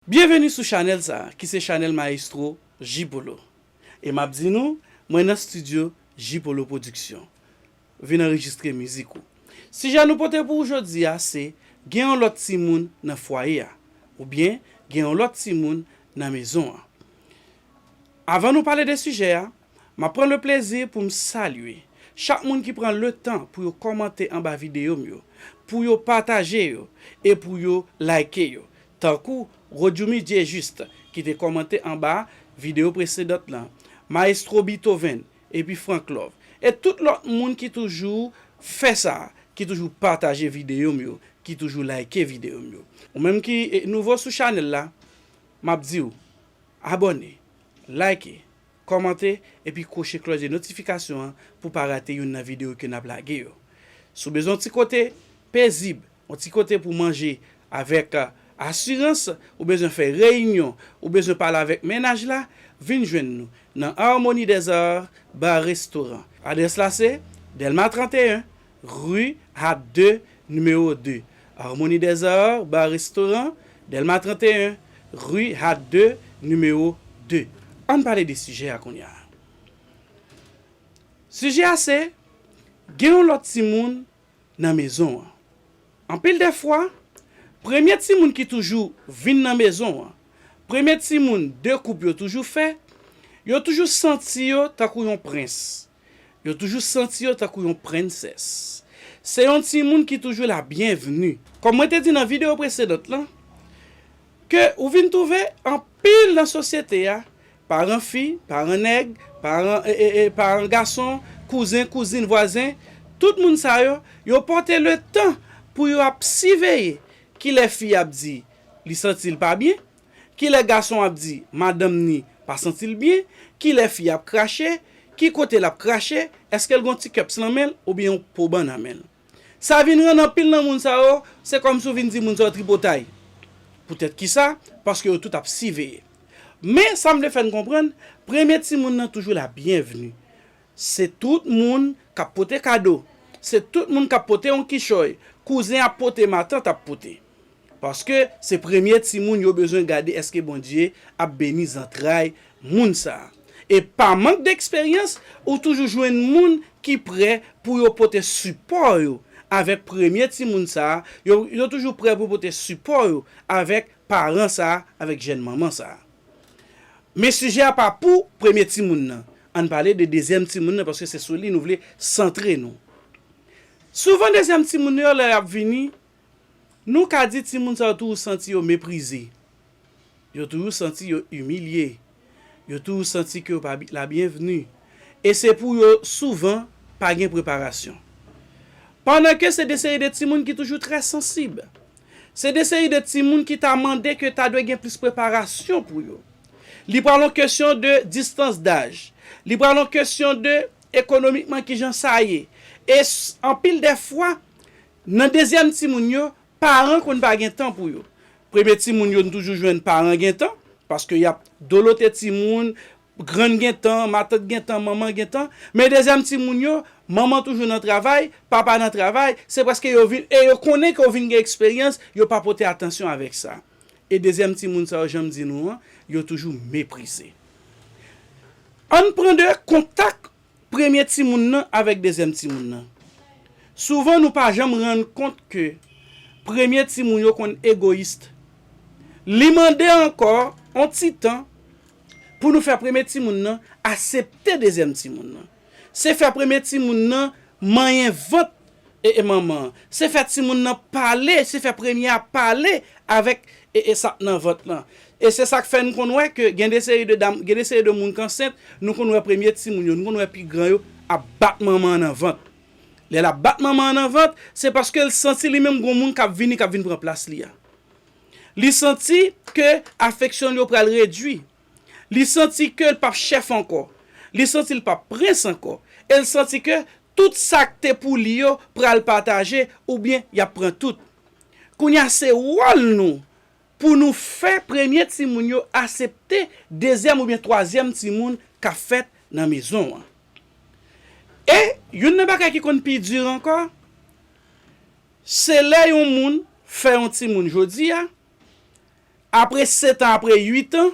Byenveni sou chanèl sa ki se chanèl maestro J-polo e map di nou mwen nan studio J-polo production vin anrejistre mizik ou. Sijè nou pote pou ou jodi a se gen yon lòt timoun nan fwaye a oubyen gen yon lòt timoun nan mezon an. Avan nou pale de sijè a Map pran le plezi pou m salye chak moun ki pran le tan pou yo kòmante anba videyo m yo, pou yo pataje yo e pou yo like yo tankou Rodjoumy Dieujuste ki te kòmante anba videyo presedant lan, Maestro Beethoven epi Franklove e tout lòt moun ki toujou fè sa, ki toujou pataje videyo m yo, ki toujou like videyo m yo. Ou menm ki nouvo sou chanèl la, map di w abòne, like, Kòmante epi kwoche klòch de notifikasyon an pou pa rate youn nan videyo ke nap lage yo. Si w bezwen yon ti kote pezib, yon ti kote pou manje avèk asirans, ou bezwen fè reyinyon, ou bezwen pale avèk mennaj la, vin jwenn nou nan Harmonie des Arts Bar Restaurant. Adrès la se, Dèlma 31, Rue Hat ii, Numéro 2, Harmonie des Arts, Bar Restaurant, Delma 31, Rue Hat ii, Numéro 2. Ann pale de sijè a kounye a. Sijè a se, Gen yon lòt timoun nan mezon an. Anpil dè fwa, premye timoun ki toujou vin nan mezon an, premye timoun de koup yo toujou fè, yo toujou santi yo tankou yon prens. Yo toujou santi yo tankou yon prensès. Se yon timoun ki toujou la byenvni. Kòm mwen te di nan videyo presedant lan, ke ou vin twouve anpil nan sosyete a, paran fi, paran nèg, paran paran gason, kouzen, kouzin, vwazen, tout moun sa yo, yo pòte letan pou yo ap siveye kilè fi a ap di li santi l pa byen, Kilè gason ap di madanm ni pa santi l byen, kilè fi ap krache, ki kote l ap krache, eske l gon ti cups nan men l oubyen yon po ban nan men l. Sa vin rann anpil nan moun sa yo, se kòmsi w vin di moun sa yo tripotay. Poutèt kisa? Paske yo tout ap siveye. Men, sa m vle fè n konprann, premye timoun nan toujou la byenvni. Se tout moun k ap pote kado. Se tout moun k ap pote yon kichòy. Kouzen ap pote, matant ap pote. Paske se premye timoun yo bezwen gade eske Bondye ap beni zantray moun sa. E pa mank deksperyans ou toujou jwenn moun ki prè pou yo pote sipò yo avèk premye timoun sa, yo yo toujou prè pou pote sipò yo avèk paran sa, avèk jèn manman sa. Men sijè a pa pou premye timoun nan, ann pale de dezyèm timoun nan paske se sou li nou vle santre nou. Souvan dezyèm timoun nan yo lè yap vini Nou ka di timoun sa yo toujou santi yo meprize, yo toujou santi yo imilye, yo toujou santi ke yo pa labyenvni, e se pou yo souvan pa gen preparasyon. Pandan ke se de seri de timoun ki toujou trè sansib. Se de seri de timoun ki ta mande ke ta dwe gen plis preparasyon pou yo. Li pral yon kesyon de distans daj, li pral yon kesyon de ekonomikman kijan sa ye, e anpil dè fwa, Nan dezyèm timoun yo, paran konn pa gen tan pou yo. Premye timoun yo n toujou jwenn paran gen tan, paske y ap dolote timoun, grann gen tan, matant gen tan, manman gen tan. Men dezyèm timoun yo, manman toujou nan travay, papa nan travay, se prèske yo vin, e yo konnen ke yo vin gen eksperyans, yo pa pote atansyon avèk sa. E dezyèm timoun sa yo, jan m di nou an, yo toujou meprize. An n pran de kontak. Premye timoun nan avèk dezyèm timoun nan. Souvan nou pa janm rann kont ke premye timoun yo konn egoyist. Li mande ankò on ti tan pou nou fè premye timoun nan asepte dezyèm timoun nan. Se fè premye timoun nan manyen vant E e manman. Se fè timoun nan pale, se fè premye a pale avèk e e sat nan vant lan. E se sak fè nou konn wè ke gen de seri de dam, gen de seri de moun k ansent, nou konn wè premye timoun yo, nou konn wè pi gran yo ap bat manman an nan vant. Lè l ap bat manman an nan vant, se paske l santi li menm gon moun k ap vini, k ap vin pran plas li a. Li santi ke afeksyon l yo pral redui. Li santi ke l p ap chèf ankò. Li santi l p ap prens ankò. E l santi ke Tout sak te pou li yo pral pataje oubyen yap pran tout. Kounya se wòl nou pou nou fè premye timoun yo asepte dezyèm oubyen twazyèm timoun ka fèt nan mezon an. E youn nan bagay ki konn pi dur ankò se lè yon moun fè yon timoun jodia apre setan apre uitan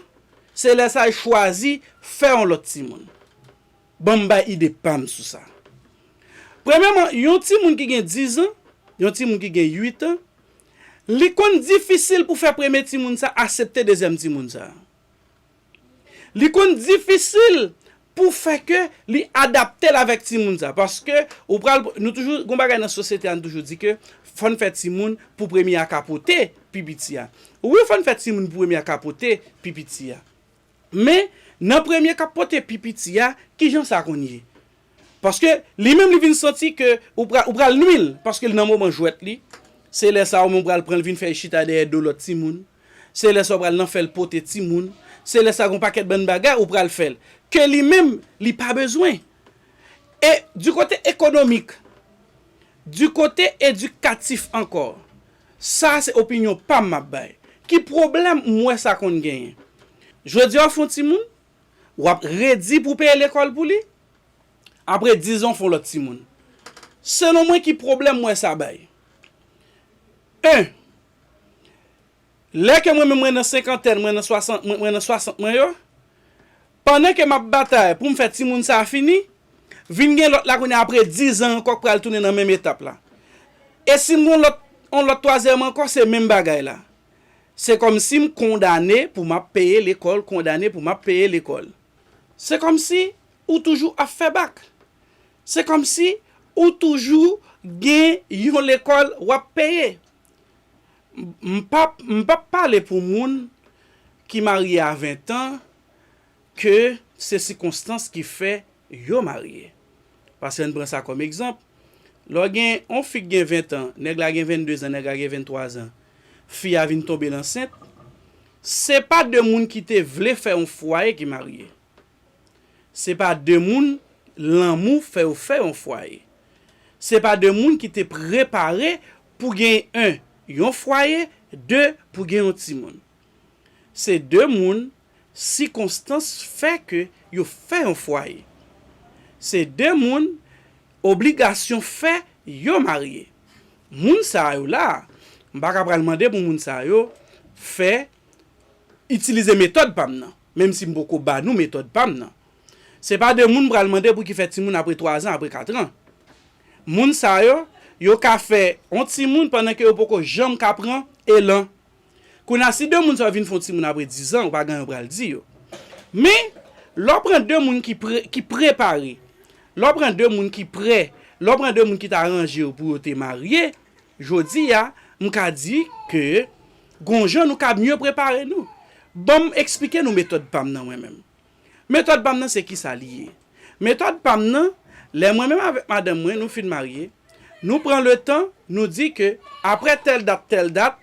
se lè sa l chwazi fè yon lòt timoun. Ban m bay ide pa m sou sa. Premyèman, yon timoun ki gen dizan, yon timoun ki gen uitan, li konn difisil pou fè premye timoun sa a asepte dezyèm timoun sa a. Li konn difisil pou fè ke li adapte l avèk timoun sa a. Paske ou pral, nou toujou, gon bagay nan sosyete a nou toujou di ke fò n fè timoun pou premye a ka pote pi piti a. Wi fò n fè timoun pou premye a ka pote pi piti a. Men, nan premye k ap pote pi piti a, ki jan sa konn ye? Paske, li menm li vin santi ke ou pra, ou pral nwi l, paske l nan moman jwèt li, se lè sa a ou menm ou pral pran l vin fè l chita dèyè do lòt timoun, se lè sa ou pral nan fè l pote timoun, se lè sa gen yon pakèt bann bagay ou pral fè l, ke li menm li pa bezwen. E, di kote ekonomik, di kote edikatif ankò, Sa a se opinyon pa m m ap bay. Ki pwoblèm m wè sa konn genyen? Jodi a w fè yon timoun, w ap redi pou w peye lekòl pou li, apre dizan w fè yon lòt timoun. Selon mwen ki pwoblèm m wè sa bay? 1, Lè ke mwen menm mwen nan senkantèn, mwen nan swasant mwen nan swasant mwen yo, Pandan ke map batay poum fè timoun sa fini, vin gen lòt la kounye a apre 10 ans ankò k pral tounen nan menm etap la. E sim gon lòt on lòt twazyèm ankò se menm bagay la. Se kòmsim kondane pou map peye lekòl kondane pou map peye lekòl. Se kòmsi ou toujou ap fè bak. Se kòmsi ou toujou gen yon lekòl wap peye. M pap m pap pale pou moun ki marye a 20 ans ke se sikonstans ki fè yo marye. Pase ann pran sa kòm egzanp, lò gen on fi k gen 20 tan, nèg la gen 22 zan, nèg la gen 23 zan, fi a vin tonbe l ansent, se pa 2 moun ki te vle fè on fwaye ki marye. Se pa 2 moun lanmou fè yo fè on fwaye. Se pa 2 moun ki te prepare pou gen 1 yon fwaye, 2 pou gen on timoun. Se de moun sikonstans fè ke yo fè yon fwaye. Se de moun obligasyon fè yo marye. Moun sa yo la, m pa ka pral mande pou moun sa yo fè, itilize metòd pa m nan, menm si m poko ba nou metòd pa m nan. Se pa de moun m pral mande pou ki fè timoun apre twazan, apre katran. Moun sa yo, yo ka fè yon timoun pandan ke yo poko janm ka pran elan Kounya si 2 moun sa yo vin fon timoun apre 10 ans ou pa gen anyen ou pral di yo. Men lè w pran 2 moun ki pre ki prepare, lè w pran 2 moun ki prè, lè w pran 2 moun ki ta ranje yo pou yo te marye, jodi a m ka di ke gon jan nou ka mye prepare nou. Ban m eksplike nou metòd pa m nan mwen menm. Metòd pa m nan se ki sa li ye? Metòd pa m nan, lè mwen menm avèk madanm mwen nou fin marye, nou pran letan nou di ke aprè tèl dat tèl dat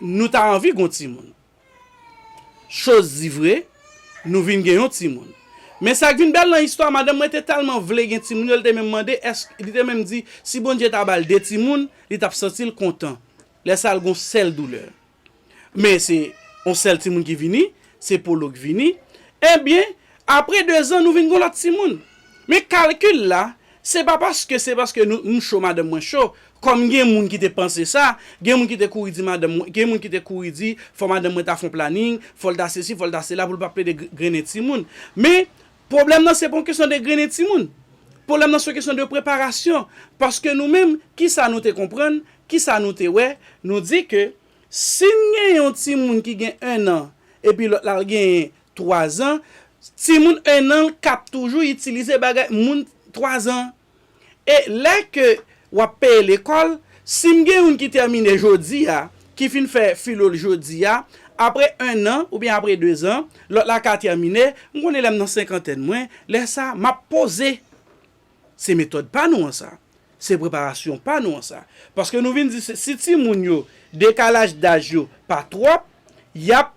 nou ta anvi gon timoun. Choz di vre, nou vin gen yon timoun. Men sa k vin bèl nan istwa a, madanm mwen te tèlman vle gen timoun yo, li te menm mande èske, li te menm di si Bondye ta ba l 2 timoun, li t ap santi l kontan. Lè sa l gon sèl doulè. Men se yon sèl timoun ki vini, se Polo ki vini. Ebyen, apre dezan nou vin gen yon lòt timoun. Men kalkil la, se pa paske se paske m cho madanm mwen cho, kòm gen moun ki te panse sa, gen moun ki te kouri di madanm mwen, gen moun ki te kouri di fò madanm mwen ta fè yon planin, fò l ta sesi, fò l ta sela pou l pa plede grennen timoun. Men, Pwoblèm nan se pa yon kesyon de grennen timoun. Pwoblèm nan se yon kesyon de preparasyon. Paske nou menm, ki sa nou te konprann, ki sa nou te wè, nou di ke si n gen yon timoun ki gen ennan epi lòt la l genyen twazan, timoun ennan l kab toujou itilize bagay moun twazan an. E lè ke wap peye lekòl, si m gen youn ki tèmine jodi a, ki fin fè filo l jodi a, apre 1 an oubyen apre 2 zan, lòt la ka tèmine, m konnen lè m nan senkantèn mwen, lè sa a map poze. Se metòd pa nou an sa. Se preparasyon pa nou an sa. Paske nou vin di si timoun yo, dekalaj daj yo pa twòp, yap.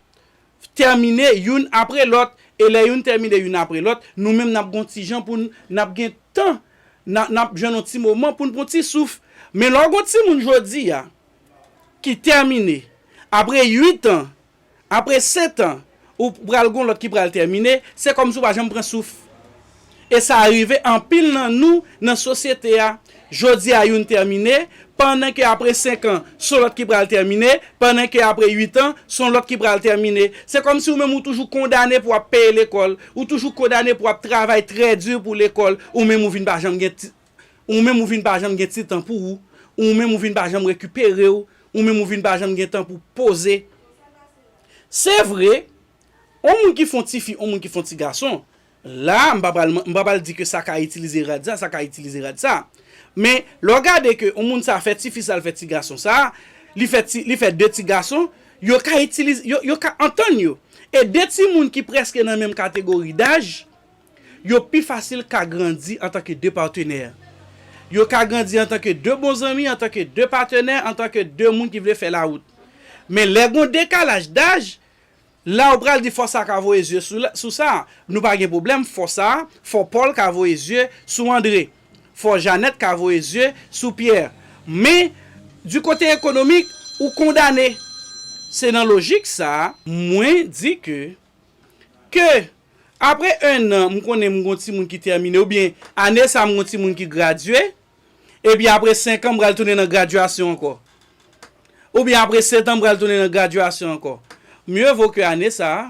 tèmine youn apre lòt, e lè youn tèmine youn apre lòt, nou menm n ap gen yon ti jan pou n, n ap gen tan, n ap jwenn yon ti moman pou n pran yon ti souf. Men lè w gen yon timoun jodi a ki tèmine, apre uitan, apre setan, ou pral gen yon lòt ki pral tèmine, se kòmsi ou pa janm pran souf. e sa rive anpil nan nou nan sosyete a, jodi a youn tèmine, pandan ke apre senk an, son lòt ki pral tèmine, pandan ke apre uit an, son lòt ki pral tèmine. Se kòmsi ou menm ou toujou kondane pou ap peye lekòl, ou toujou kondane pou ap travay trè di pou lekòl, ou menm ou vin pa janm gen ti, ou menm ou vin pa janm gen ti tan pou ou, ou menm ou vin pa janm rekipere ou, ou menm ou vin pa janm gen tan pou poze. Se vre, on moun ki f'on ti fi, on moun ki f'on ti gason, La a, m pa pral, m pa pral di ke sa ka itilize rad sa, sa ka itilize rad sa. Men, lè w gade ke yon moun sa fè ti fi sa, l fè ti gason sa, li fè ti, li fè 2 ti gason, yo ka itilize, yo, yo ka antann yo. E 2 timoun ki prèske nan menm kategori daj, yo pi fasil ka grandi antanke 2 patenè. Yo ka grandi antanke 2 bon zanmi, antanke 2 patenè, antanke 2 moun ki vle fè lawout. Men lè gon dekalaj daj, La ou pral di fò sa ka voye zye sou sa, nou pa gen pwoblèm, fò sa, fò Pòl ka voye zye sou Andre, fò Janèt ka voye zye sou Pyè. Men, di kote ekonomik, ou kondane. Se nan lojik sa, mwen di ke, ke apre ennan m konnen m gon timoun ki tèmine oubyen ane sa m gon timoun ki gradye, Epi apre 5 an m pral tounen nan graduation ankò. Oubyen apre 7 an m pral tounen nan graduation ankò. Mieux vaut que ane sa a,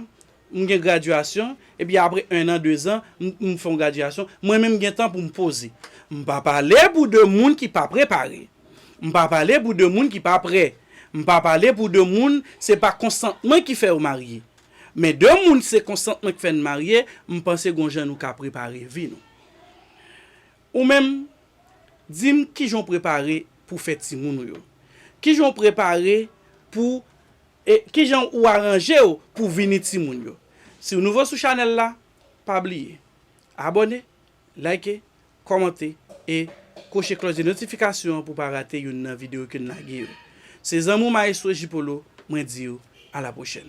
m gen graduation, epi apre 1 an, 2 zan, m fè yon graduation, mwen menm m gen tan pou m poze. M pa pale pou de moun ki pa prepare. M pa pale pou de moun ki pa prè. M pa pale pou de moun se pa konsantman ki fè yo marye. Men de moun se konsantman k fè n marye, m panse gon jan nou ka prepare vi nou. Ou menm, di m kijan w prepare pou fè timoun ou yo? Kijan w prepare pou e kijan ou aranje w pou vini timoun yo? Si w nouvo sou chanèl la, pa bliye abòne, like, kòmante e koche klòch de notifikasyon an pou w pa rate youn nan videyo ke n lage yo. Se zanmi w Maestro J Polo, mwen di w a la pwochèn.